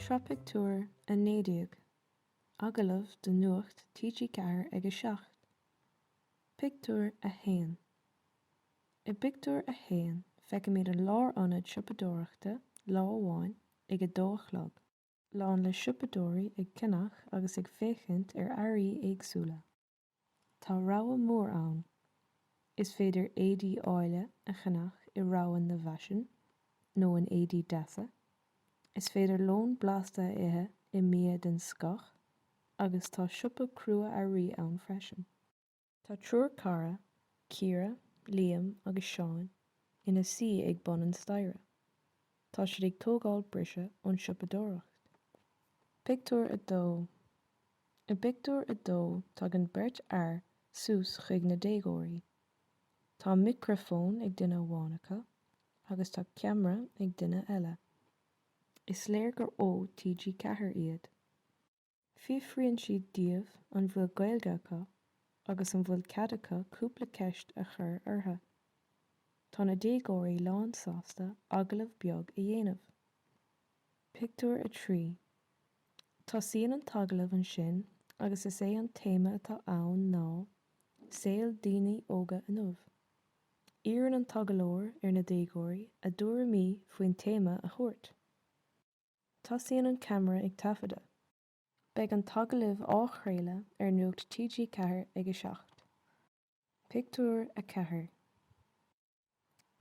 Seo pictiúr a 19, agallamh do Nuacht TG4 ag a 7. Pictiúr a 1 I bpictiúr a haon feicimid an lárionad siopadóireachta lá amháin ag a dó a chlog, lán le siopadóirí ag ceannach agus ag féachaint ar earraí éagsúla. Tá rogha mór ann. Is féidir éadaí áille a cheannach i Rogha na bhFaisean nó in Éadaí Deasa. Is féidir lón blasta a ithe i mBia den Scoth agus tá siopa crua-earraí ann freisin. Tá triúr cara, Ciara, Liam agus Seán, ina suí ag bun an staighre. Tá siad ag tógáil briseadh ón siopadóireacht. Pictiúr a 2 I bpictiúr a dó tagann beirt fhear suas chuig na déagóirí. Tá micreafón ag duine amháin acu agus tá ceamara ag duine eile. Is léir gur ó TG4 iad. Fiafraíonn siad díobh an bhfuil Gaeilge acu agus an bhfuil cead acu cúpla ceist a chur orthu. Tá na déagóirí lánsásta agallamh beag a dhéanamh. Pictiúr a 3 Tosaíonn an t-agallamh ansin agus is é an téama atá ann ná 'Saol Daoine Óga Inniu'. Iarrann an t-agallóir ar na déagóirí a dtuairimí faoin téama a thabhairt. Tosaíonn an ceamara ag taifeadadh. Beidh an t-agallamh á chraoladh ar Nuacht TG4 ag a 7. Pictiúr a 4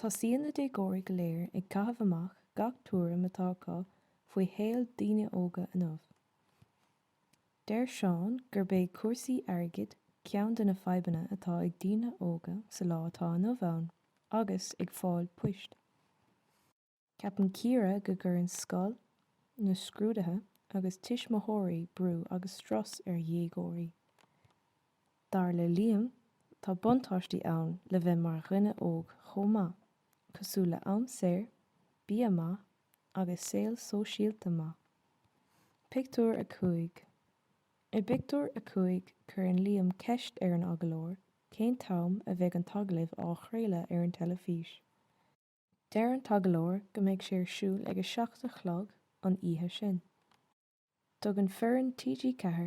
Tosaíonn na déagóirí go léir ag caitheamh amach gach tuairim atá acu faoi shaol daoine óga inniu. Deir Seán gurb é cúrsaí airgid ceann de na fadhbanna atá ag daoine óga sa lá atá inniu ann agus ag fáil poist. Ceapann Ciara go gcuireann scoil, na scrúduithe agus tuismitheoirí brú agus strus ar dhéagóirí. Dar le Liam, tá buntáistí ann le bheith mar dhuine óg chomh maith, cosúil le am saor, bia maith agus saol sóisialta maith. Pictiúr a 5 I bpictiúr a cúig, cuireann Liam ceist ar an agallóir cén t-am a bheidh an t-agallamh á chraoladh ar an teilifís. Deir an t-agallóir go mbeidh sé ar siúl ag a seacht a chlog an oíche sin. Tugann foireann TG4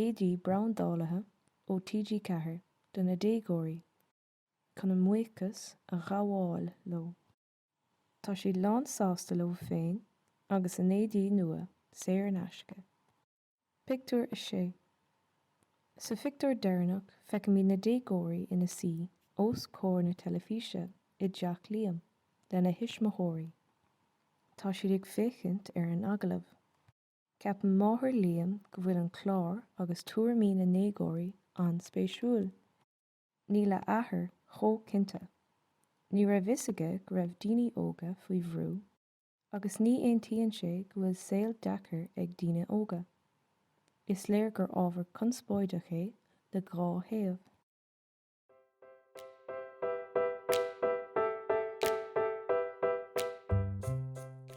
éadaí brandáilte ó TG4 do na déagóirí chun a mbuíochas a ghabháil leo. Tá siad lán sásta leo féin agus a n-éadaí nua saor in aisce. Pictiúr a 6 Sa phictiúr deireanach feicimid na déagóirí ina suí os comhair na teilifíse i dteach Liam lena thuismitheoirí. Tá siad ag féachaint ar an agallamh. Ceapann máthair Liam go bhfuil an clár agus tuairimí na ndéagóirí an-spéisiúil. Níl a athair chomh cinnte. Ní raibh a fhios aige go raibh daoine óga faoi bhrú. agus ní aontaíonn sé go bhfuil saol deacair ag daoine óga. Is léir gur ábhar conspóideach é le dhá thaobh.